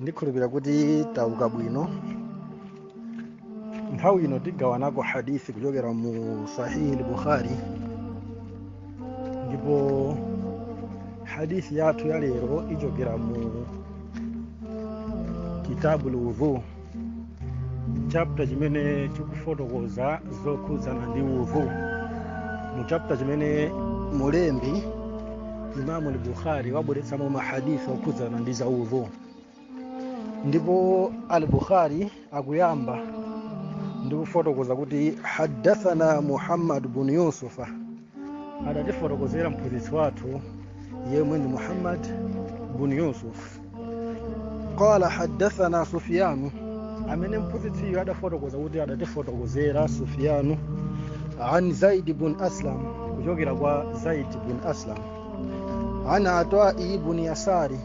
ndikhulupira kuti tauka bwino nthawi ino tigawanako hadithi kuchokera mu sahihi lbukhari ndipo hadithi yathu ya lero ichokera mu kitabu lwudhu chapter chimene chikufotokoza zokhudzana ndi udhu mu chapter chimene mulembi imamu al-bukhari wabweretsamo mahaditha okhudzana ndi za udhu ndipo al-bukhari akuyamba ndi kufotokoza kuti haddathana muhammad bun yusufa adatifotokozera mphunzitsi wathu yemwe ndi muhammad bun yusuf qala haddathana sufyanu amene mphunzitsiyo adafotokoza kuti adatifotokozera sufyanu an zaid bun aslam kuchokera kwa zaid bun aslam an atwai bun yasari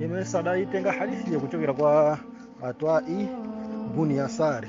yemwe adayitenga hadithi kuchokera kwa atwai bun yasari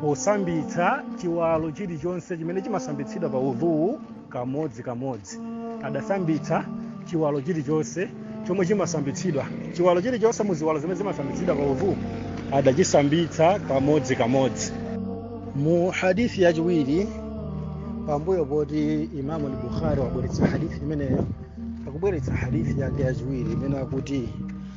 posambitsa chiwalo chilichonse chimene chimasambitsidwa pa udhuwu kamodzi kamodzi adasambitsa chiwalo chilichonse chomwe chimasambitsidwa chiwalo chilichonse mu ziwalo zimene zimasambitsidwa pa udhuwu adachisambitsa kamodzi kamodzi mu hadithi yachiwiri pambuyo poti imamu al-bukhari wabweretsa hadithi imeneyo akubweretsa hadithi yake yachiwiri imene akuti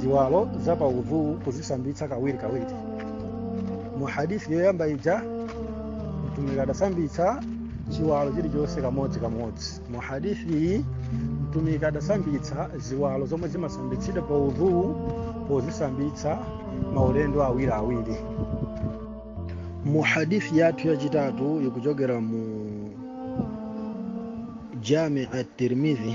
ziwalo za pa udhu kuzisambitsa kawiri kawiri mu hadithi yoyamba ija mtumiki adasambitsa chiwalo chilichonse kamodzi kamodzi mu hadithi iyi mtumiki adasambitsa ziwalo zomwe zimasambitsidwa pa udhu pozisambitsa maulendo awiri awiri mu hadithi yathu yachitatu ikuchokera mu jami at-tirmidhi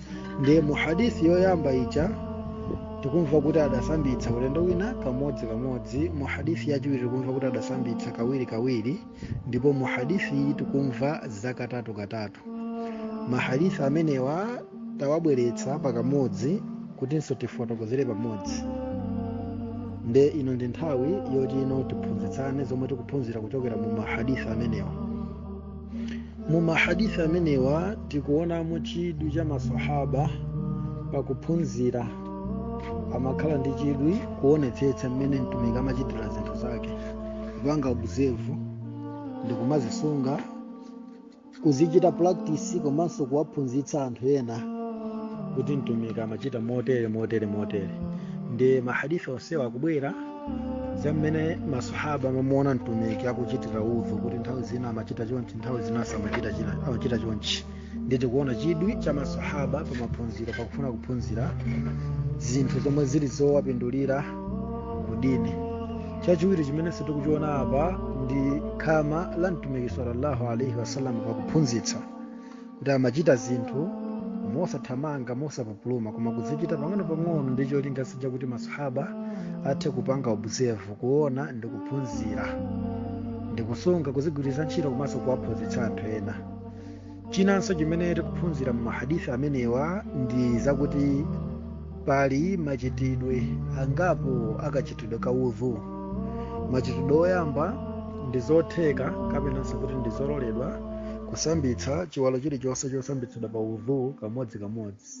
nde mu hadisi yoyamba ija tikumva kuti adasambitsa ulendo wina kamodzi kamodzi mu hadisi yachiwiri tikumva kuti adasambitsa kawiri kawiri ndipo mu hadisi iyi tikumva za katatu katatu mahadisi amenewa tawabweretsa pakamodzi kutinso tifotokozere pamodzi nde ino ndi nthawi yoti ino tiphunzitsane zomwe tikuphunzira kuchokera mu mahadisi amenewa mu mahadithi amenewa tikuonamo chidwi cha masahaba pakuphunzira amakhala ndi chidwi kuonetsetsa mmene mtumiki amachitira zinthu zake kupanga observe ndi kumazisunga kuzichita practice komanso kuwaphunzitsa anthu ena kuti mtumiki amachita motere motere motere ndi mahadithi onsewa akubwera za mmene masahaba amamuona mtumiki akuchitira udhu kuti nthawi zina amachita chonchi nthawi zina amachita chonchi ndi tikuona chidwi cha masahaba pa maphunziro pakufuna kuphunzira zinthu zomwe zili zowapindulira ku dini chachiwiri chimene tikuchiona apa ndi khama la mtumiki sallallahu alaihi wasallam pakuphunzitsa kuti amachita zinthu mosathamanga mosapupuluma koma kuzichita pang'ono-pang'ono ndi cholinga chakuti masahaba athe kupanga observe kuona ndi kuphunzira ndi kusunga kuzigwiritsa ntchito komanso kuwaphunzitsa anthu ena chinanso chimene tikuphunzira mu mahadithi amenewa ndi zakuti pali machitidwe angapo akachitidwe ka udhu machitidwe oyamba ndi zotheka kapenanso kuti ndi zololedwa kusambitsa chiwalo chilichonse chosambitsidwa pa udhu kamodzikamodzi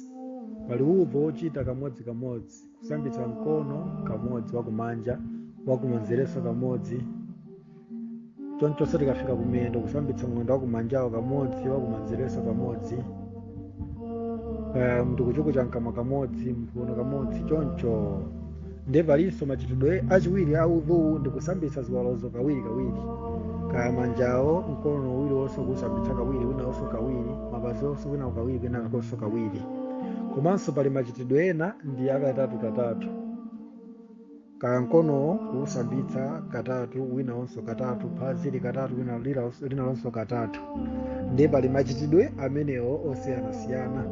pali udhu ochita kamodzikamodzi kusambitsa mkono kamodzi wakumanja wakumanzereso kamodzi chonchonso tikafika kumiyendo kusambitsa mwendo wakumanjawo kamodzi wakumanzereso kamodzi kuchukucha mkamwa kamodzi mphuno kamodzi choncho nde palinso machitidwe achiwiri a udhu ndi kusambitsa ziwalozo kawiri kawiri kaya manjawo mkono uwu kusambitsa kawiri winawonso kawiri mapazinso wina kawiri kwinakonso kawiri komanso pali machitidwe ena ndi akatatu katatu kaya mkonowo kuwusambitsa katatu winawonso katatu phazili katatu wina lila- linalonso katatu ndi pali machitidwe amenewo osiyanasiyana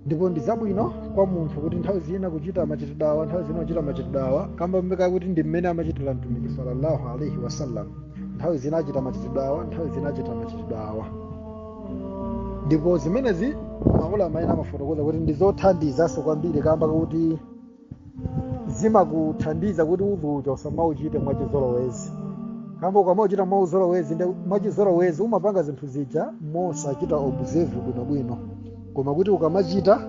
ndipo ndi zabwino kwa munthu kuti nthawi zina kuchita machitidwe awa nthawi zina kuchita machitidwe awa kamba kakuti ndi mmene amachitira mtumiki sallallahu alaihi wasallam nthawi zina achita machitidwe awa nthawi zina achita machitidwe awa ndipo zimenezi maulama ena amafotokoza kuti ndi zothandizanso kwambiri kamba kuti zimakuthandiza kuti udhu uja usamauchite mwachizolowezi kamba ukamauchita mwauzolowezi nde mwachizolowezi umapanga zinthu zija mosachita observe bwinobwino koma kuti ukamachita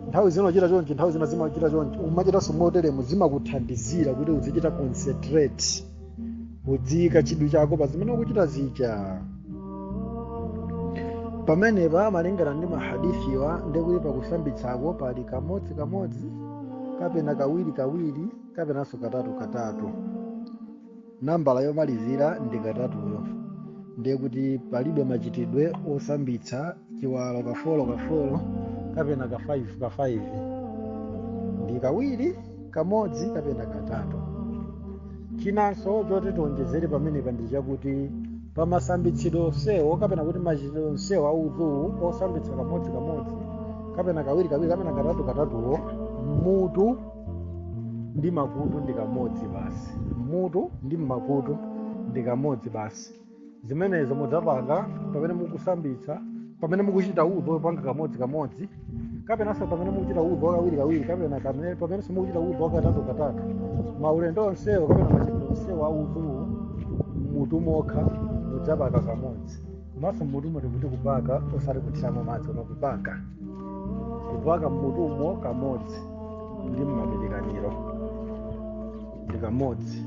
nthawi zina uchita chonchi nthawi zina zimachita chonchi umachitanso moteremo zimakuthandizira kuti uzichita concentrate udziyika chidwi chako pa zimene ukuchita zija pamenepa malingana ndi mahadithiwa ndikuti pakusambitsako pali kamodzi kamodzi kapena kawiri kawiri kapenanso katatu katatu nambala yomalizira ndi katatuyo ndiye kuti palibe machitidwe osambitsa chiwalo kafolo kafolo kapena ka 5 ka 5 ndi kawiri kamodzi kapena katatu chinanso choti tiwonjezere pamenepa ndi chakuti pa masambitsidwe onsewo kapena kuti machitidwe onsewo a udhu osambitsa kamodzi kamodzi kapena kawiri kawiri kapena katatu katatuwo mutu ndi makutu ndi kamodzi basi mutu ndi makutu ndi kamodzi basi zimenezo mudzapanga pamene mukusambitsa pamene mukuchita udhu wopanga kamodzi kamodzi kapenanso pamene mukuchita udhu wakawiri kawiri kapena pamenenso mukuchita udhu wakatatu katatu maulendo onsewo kapena machitidwe onsewo a udhuwo mutumo mokha mudzapaka kamodzi komanso mutumo tikuti kupaka osati kuthiramo madzi koma kupaka kupaka mutumo kamodzi ndi mmapirikaniro ndi kamodzi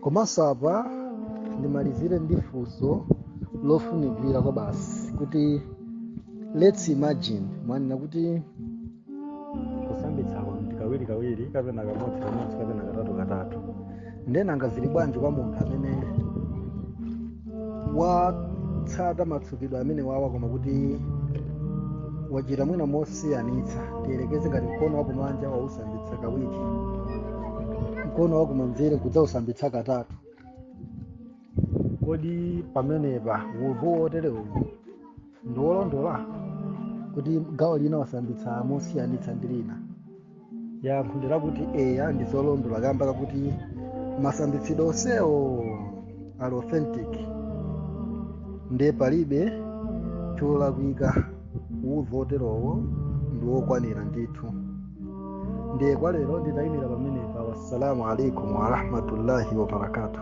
komanso apa ndimalizire ndi funso lofunikira kwabasi kuti let's imagine mwanena kuti kusambitsako ndi kawiri kawiri kapena kamodzi kamodzi kapena katatu katatu nde nanga zili bwanji kwa munthu amene watsata matsukidwe amene wawa koma kuti wachita mwina mosiyanitsa tiyerekeze ngati mkono wakumanja wausambitsa kawiri mkono wakumanzere nkudzausambitsa katatu kodi pamenepa udhu woterewu ndiwolondola kuti gawo lina wasambitsa mosiyanitsa ndi lina yankho ndi lakuti eya ndi zolondola kamba kakuti masambitsidwe onsewo ali authentic ndiye palibe cholakwika udhu oterowo ndi wokwanira ndithu ndiye kwa lero nditayimira pamenepa wassalamu alaikum warahmatullahi wabarakatuh